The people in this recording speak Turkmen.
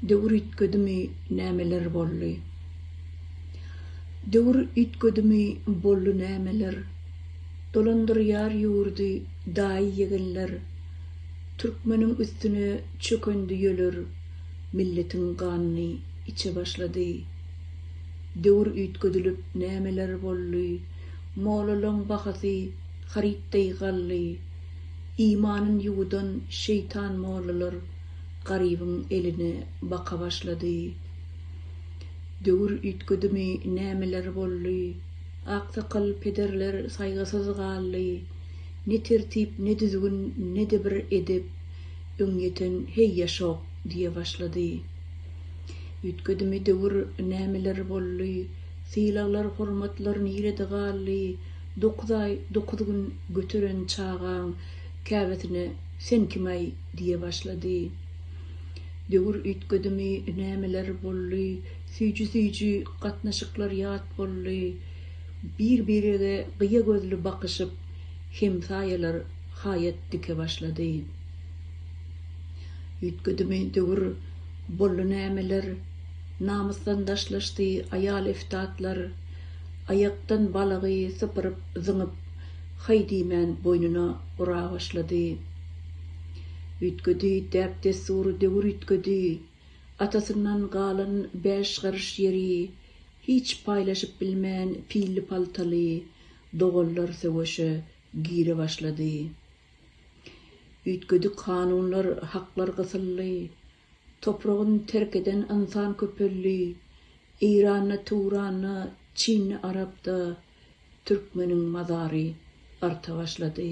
Döwür üýtgedimi nämeler bolly. Döwür üýtgedimi bolly nämeler, Dolandyrýar ýurdy daýy-ýegenler, Türkmeniň üstüne çökendi ýöler, Milletiň ganyny içe başlady. Döwür üýtgedilip nämeler bolly, Molalaň bahasy haryt deý gally, Imanyn ýuwudan şeýtan mollalar Garybyň eline baka başlady. Döwür üýtgedimi nämeler boldy. Aksakal pederler saýgysyz galdy. Ne tertip ne düzgün ne-de bir edep öň ýeten heý ýaşok diýe başlady. Üýtgedimi döwür nämeler boldy. Sylaglar hormatlar nirede galdy. Dokuz aý, dokuz gün göteren çagaň käbesine Sen kim-aý? diýe başlady. Döwür üýtgedimi, nämeler boldy, süýji-süýji gatnaşyklar ýat boldy. Bir-birege gyýa gözli bakyşyp, hemsaýalar haýat dike başlady. Üýtgedimi döwür, boldy nämeler, namysdan daşlaşdy aýal eftatlar. Aýakdan balagy sypyryp, zyňyp, haý diýmän boýnuna ura başlady. Üýtgedi, däp-dessur, döwür üýtgedi. Atasyndan galan bäş garyş ýeri hiç paýlaşyp bilmän pilli-paltaly doganlar söweşe gire başlady. Üýtgedi kanunlar, haklar gysyldy. Topragyn terk eden ynsan köpeldi, Eýranda, Tuwranda, Çinli Arapda türkmeniň mazary arta başlady.